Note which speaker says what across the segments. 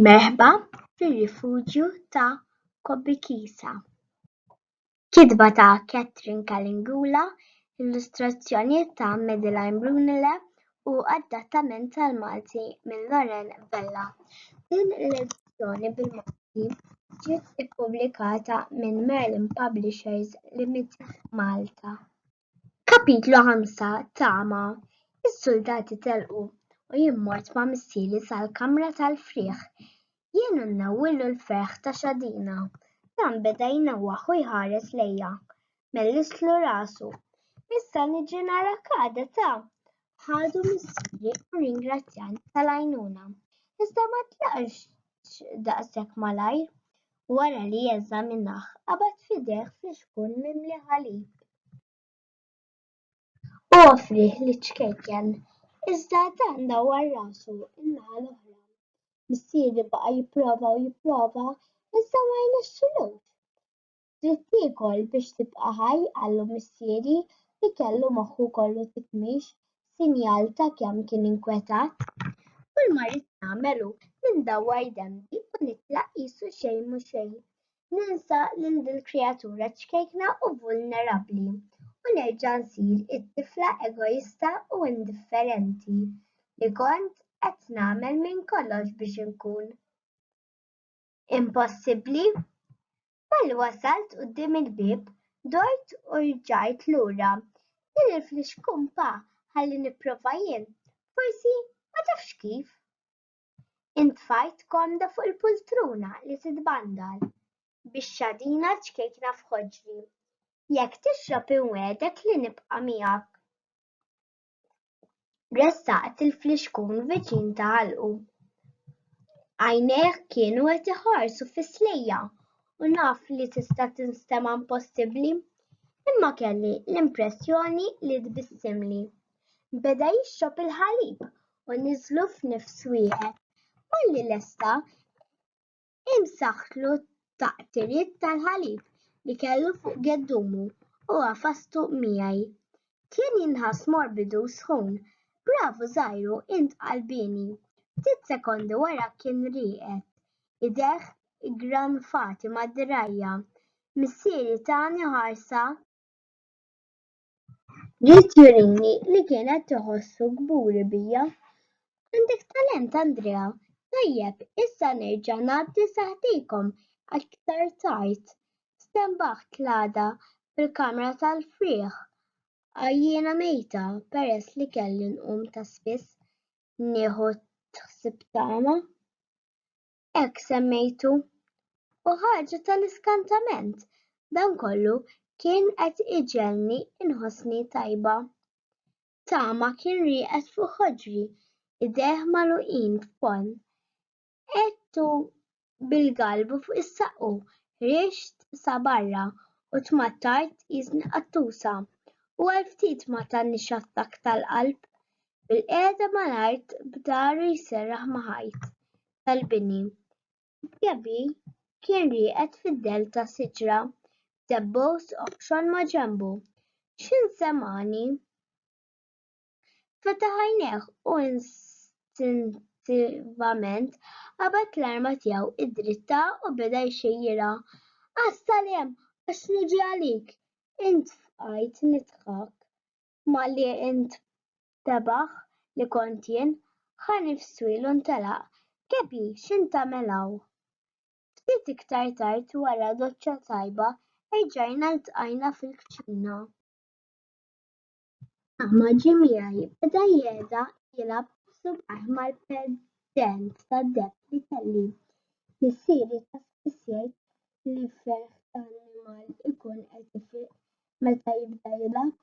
Speaker 1: Merħba fir-rifuġju ta' Kobikisa. Kitba ta' Catherine Kalingula, illustrazzjonijiet ta' Madeline Brunele u adattament tal-Malti minn Loren Vella. Din l-edizzjoni bil-Malti ġiet ippubblikata minn Merlin Publishers Limited Malta. Kapitlu 5 Tama Is-suldati telqu u jien mort ma' missieri sal-kamra tal-frieħ. Jien u nnawwillu l-ferħ ta' xadina. Dan beda jnewwaħ u jħares lejja. Mellistlu rasu. Issa niġi narak għada ta'! Ħadu missieri u rringrazzjani tal-għajnuna. Iżda ma tlaqx daqshekk malajr. wara li eżaminah qabad f'idejh flixkun mimli ħalib. U offrih liċ-ċkejken, iżda dan dawwar rasu n-naħa l-oħra. Missieri baqa' jipprova u jipprova, iżda ma rnexxilux. Trid tiekol biex tibqa' ħaj, qallu missieri, li kellu moħħu kollu tikmix, sinjal ta' kemm kien inkwetat. Kull ma rrid nagħmel hu li ndawwar denbi u nitlaq qisu xejn mhu xejn. Ninsa lil dil-kreatura ċkejkna u vulnerabbli u nerġa' nsir it-tifla egoista u indifferenti li kont qed nagħmel minn kollox biex inkun. Impossibbli? Malli wasalt quddiem il-bieb, dort u rġajt lura. Din il-flix kumpa ħalli nipprova jien, forsi ma tafx kif. Intfajt komda fuq il-pultruna li titbandal, bix-xadina ċkejkna f'ħoġri. Jekk tixrob inwegħdek li nibqa' miegħek. ressaqt il-flixkun viċin ta' għalqu. Għajnejh kienu qed iħarsu fis-slejja u naf li tista' tinstema' impossibbli, imma kelli l-impressjoni li tbissimli. Beda jixrob il-ħalib u niżlu f'nifs wieħed. Malli lesta imsaħħtlu taqtiriet tal-ħalib li kellu fuq geddumu u għafastu miegħi. Kien jinħass morbidu u sħun. Bravu żgħiru, int qalbieni! Ftit sekondi wara kien rieqed, idejh iggranfati mad-dirgħajja. Missieri tani ħarsa. Ried jurini li kienet tħossu kburi bija. Għandek talent Andrea. Tajjeb, issa nerġa' ngħaddi saħtikom aktar tard. Stenbaħt l-għada fil-kamra tal-frieħ għajjiena mejta peress li kelli nqum ta' spiss nieħu t-ħsieb tagħha. hekk semmejtu. U ħaġa tal-iskantament, dan kollu kien qed iġegħelni nħossni tajba. Tama kien rieqed fuq ħoġri, idejh magħluqin f'ponn. Għedtu bil-galbu fuq is-saqqu, ħriġt sa barra u tmattajt tqisni qattusa u għal ftit ma tanix attakk tal-qalb, bil-qiegħda mal-art b'dahru jserraħ ma' ħajt. tal-bini. Diaby kien rieqed fid-dell ta' siġra b'debbos oħxon maġenbu. X'in semgħani? Fetaħ għajnejh u instintivament qabad l-arma tiegħu id-dritta u beda jxejjirha. Għas-salem, għax niġi għalik! Int fqajt nidħak. Malli int tebaħ li kont jien, ħa nifswiel u ntelaq. Kepi, x'int tagħmel hawn? Ftit iktar tard wara doċċa tajba erġajna ltqajna fil-kċina. Tama ġie miegħi, beda jegħda jilgħab b'subgħajh mal-pendent tad-deheb li kelli. Missieri ta' spiss jgħid li ferħ ta' annimal ikun qed ifiq meta jibda jilgħab.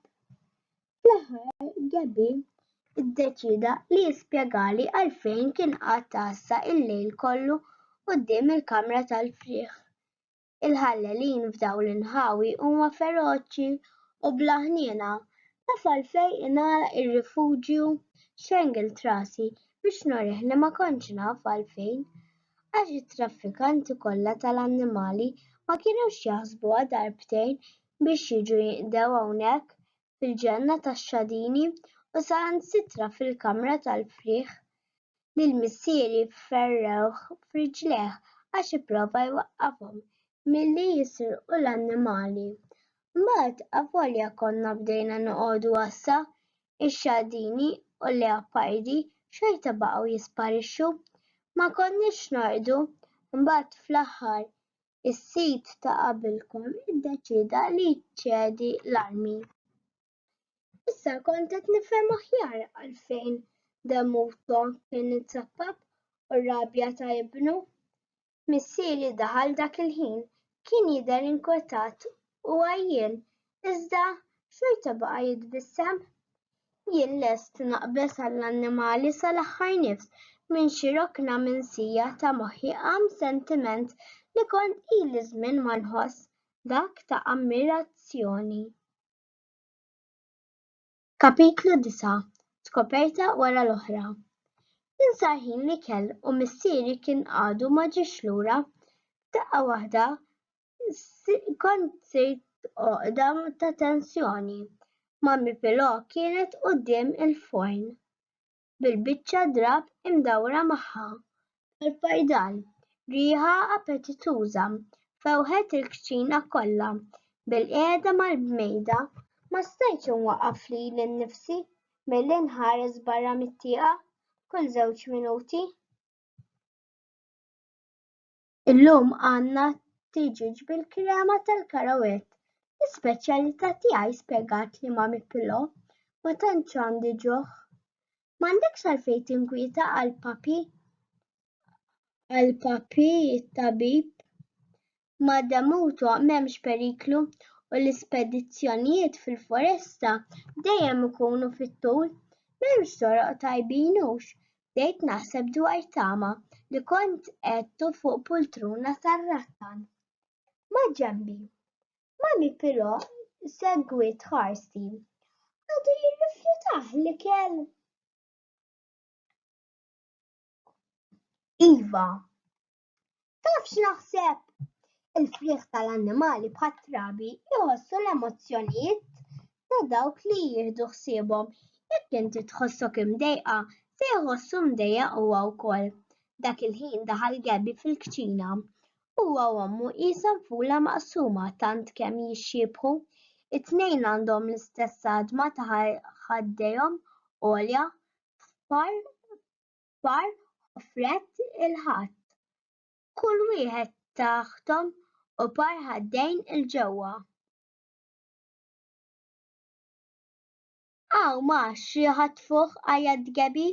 Speaker 1: Fl-aħħar Gabby iddeċieda li jispjegali għalfejn kien qagħad tgħassa l-lejl kollu quddiem il-kamra tal-frieħ. Il-ħallelin f'dawn l-inħawi huma feroċi u bla ħniena. Taf għalfejn ingħalaq ir-rifuġju? Xengilt rasi biex nurih li ma kontx naf għalfejn. għax it-traffikanti kollha tal-annimali ma kinux jaħsbuha darbtejn biex jiġu jinqdew hawnhekk fil-ġenna tax-xadini u saħansitra fil-kamra tal-frieħ lil missieri ferrewh f'riġlejh għax ipprova jwaqqafhom milli jisirqu l-annimali. Mbagħad, avolja konna bdejna noqogħdu għassa, ix-xadini u l-leopardi xorta baqgħu jisparixxu. Ma konniex norqdu. Imbagħad fl-aħħar is-sid ta' qabilkom iddeċieda li jċedi l-armi. Issa kont qed nifhem aħjar għalfejn Demuto kien itsapap u r-rabja ta' ibnu. Missieri daħal dak il-ħin, kien jidher inkwetat u għajjien, iżda xorta baqa' jitbissem. Jien lest naqbeż għall-annimali sal-aħħar nifs, minn xi rokna minsija ta' moħħi qam sentiment li kont ili żmien ma nħoss, dak ta' ammirazzjoni. Kapitlu Disa', Skoperta wara l-oħra Insar ħin l-ikel u missieri kien għadu ma ġiex lura. Daqqa waħda kont sirt għoqda ta' tensjoni. Mommy Pilò kienet quddiem il-forn. bil-biċċa drapp imdawra magħha tal-fajdal. Riħa appetituża fewħet il-kċina kollha. Bil-qiegħda mal-bmejda ma stajtx inwaqqaf lili nnifsi milli nħares barra mit-tieqa kull żewġ minuti. Illum għandna tiġieġ bil-krema tal-karawett. L-ispeċjalità tiegħi spjegat l-Imami Pilò. Ma tantx għandi ġuħ. M'għandekx għalfejn tinkwieta għal Papi. Għal Papi t-tabib. Ma' Demuto m'hemmx periklu u l-ispedizzjonijiet fil-foresta dejjem ikunu fit-tul. M'hemmx toroq tajbin hux bdejt naħseb dwar tama li kont qegħdtu fuq pultruna tar-rattan. Maġenbi. Mummy però segwiet ħarsti. Għadu jirrifjutah l-ikel? Iva, Taf x'naħseb? Il-frieħ tal-annimali bħat-trabi jħossu l-emozzjonijiet ta' dawk li jieħdu ħsiebhom. Jekk inti tħossok imdejqa, se jħossu mdejjaq huwa wkoll. Dak il-ħin daħal Gabby fil-kċina. Huwa u ommu qishom fula maqsuma tant kemm jixxiebħu. It-tnejn għandhom l-istess għadma ta' ħaddejhom għolja f'par kbar ħofret il-ħatt, kull wieħed taħthom u par ħaddejn 'il ġewwa. Hawn ma xi ħatfuh għajat Gebi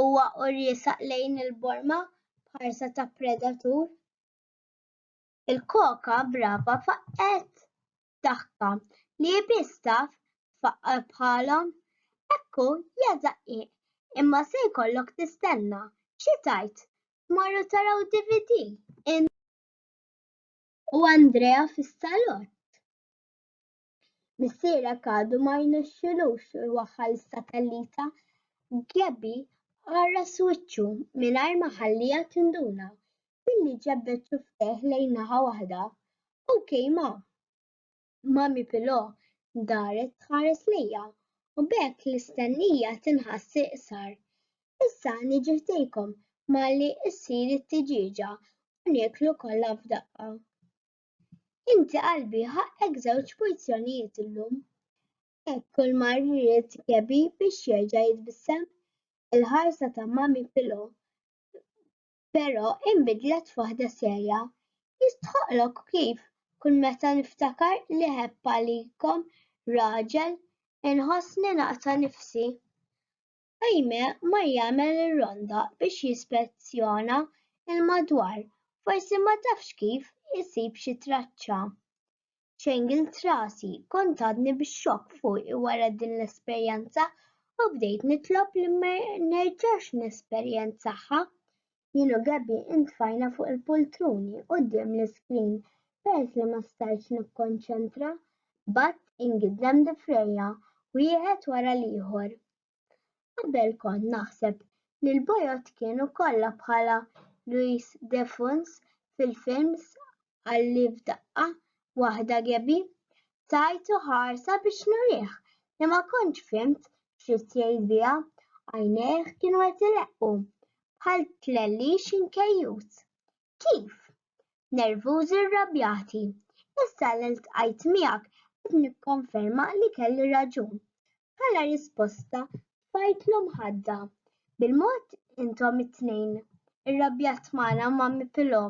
Speaker 1: huwa u riesaq lejn il-borma b'ħarsa ta' predatur. Il-koka brava faqqgħet daħka li hi biss taf tfaqqar bħalhom. Hekk hu, ja daqqiq, imma se jkollok tistenna, xi tgħid, tmorru taraw DVD int u Andrea fis-salott? Missierek għadu ma rnexxilux iwaħħal is-satellita, Gabby għarras wiċċu mingħajr ma ħalliha tinduna. billi ġebbed xufftejh lejn naħa waħda. OK ma. Mami Pilò daret tħares lejja u b'hekk l-istennija tinħass iqsar. Issa niġi ħdejkom malli ssir it-tiġieġa u nieklu kollha f'daqqa. Inti qalbi ħaqqek żewġ porzjonijiet illum. Hekk kull mar rrid Kebi biex jerġa' jitbissem. Il-ħarsa ta' Mami Pilò però inbidlet f'waħda serja. Jistħoqqlok kif kull meta niftakar li ħepp għalikom raġel inħossni naqta' nifsi. Jaime mar jagħmel ir-ronda biex jispezzjona l-madwar, forsi ma tafx kif isib xi traċċa. ċengilt rasi, kont għadni bix-xokk fuqi wara din l-esperjenza u bdejt nitlob li ma nerġax nesperjenzaha. Jien u Gabby intfajna fuq il-pultruni quddiem l-iskrin peress li ma stajtx nikkonċentra, b'att ingiddem difrejja, wieħed wara l-ieħor. Qabel kont naħseb li l-bojod kienu kollha bħala Luis de Funs fil-films Qalli f'daqqa waħda Gabby. Tajtu ħarsa biex nurih li ma kontx fhimt x'ridt jgħid biha, għajnejh kienu qed ileqqu bħal tlellix inkejjut. Kif? Nervużi rrabjati. Issa li ltqajt miegħek qed nikkonferma li kelli raġun. Bħala risposta tfajtlu mħadda. Bil-mod intom it-tnejn. Irrabjat magħna Mommy Pilò.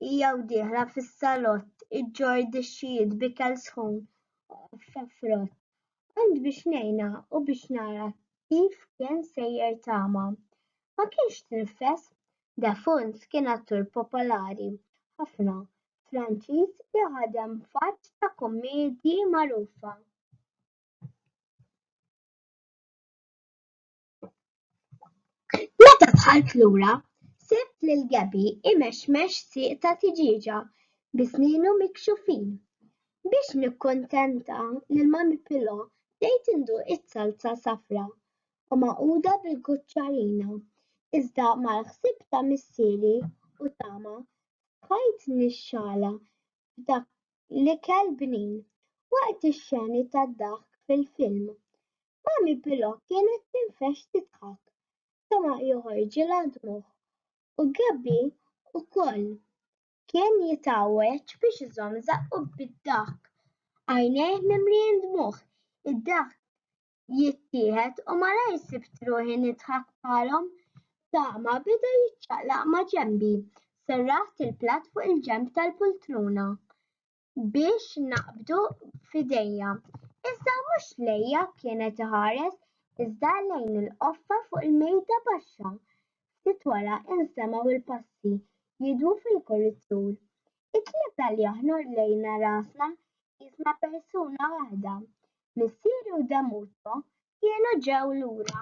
Speaker 1: Hija u dieħla fis-salott iġġorr dixxijiet b'ikel sħun u qoffa frott. Għand biex ngħinha u biex nara kif kien sejjer tama. Ma kienx tinfes. Defoons kien attur popolari ħafna Franċiż li ħadem f'għadd ta' kummedji magħrufa. Meta dħalt lura, sibt lil Gabby imexmex sieq ta' tiġieġa bi snienu mikxufin. Biex nikkuntenta lil Mummy Pillow bdejt induq iz-zalza safra u magħquda bil-kuċċarina, iżda mal-ħsieb ta' missieri u tama f'ħajt nixxala f'dak l-ikel bnin waqt ix-xeni tad-daħk fil-film. Mami Pilò kienet tinfexx tidħak, Toma joħorġilha d-dmugħ u Gabby ukoll kien jitgħawweġ biex iżomm żaqqu bid-daħk, għajnejh mimlijin dmugħ, id-daħk jittieħed u malajr sibt ruħi nidħak bħalhom. Tama beda jiċċaqlaq ma' ġenbi. Serraħt il-platt fuq il-ġenb tal-pultruna biex naqbdu f'idejja. Iżda mhux lejja kienet iħares iżda lejn il-qoffa fuq il-mejda baxxa. Ftit wara instemgħu l-passi jidwu fil-kuritur. Il-Knisja li aħna rlejna rasna qisna persuna waħda. Missieri u Damuto kienu ġew lura.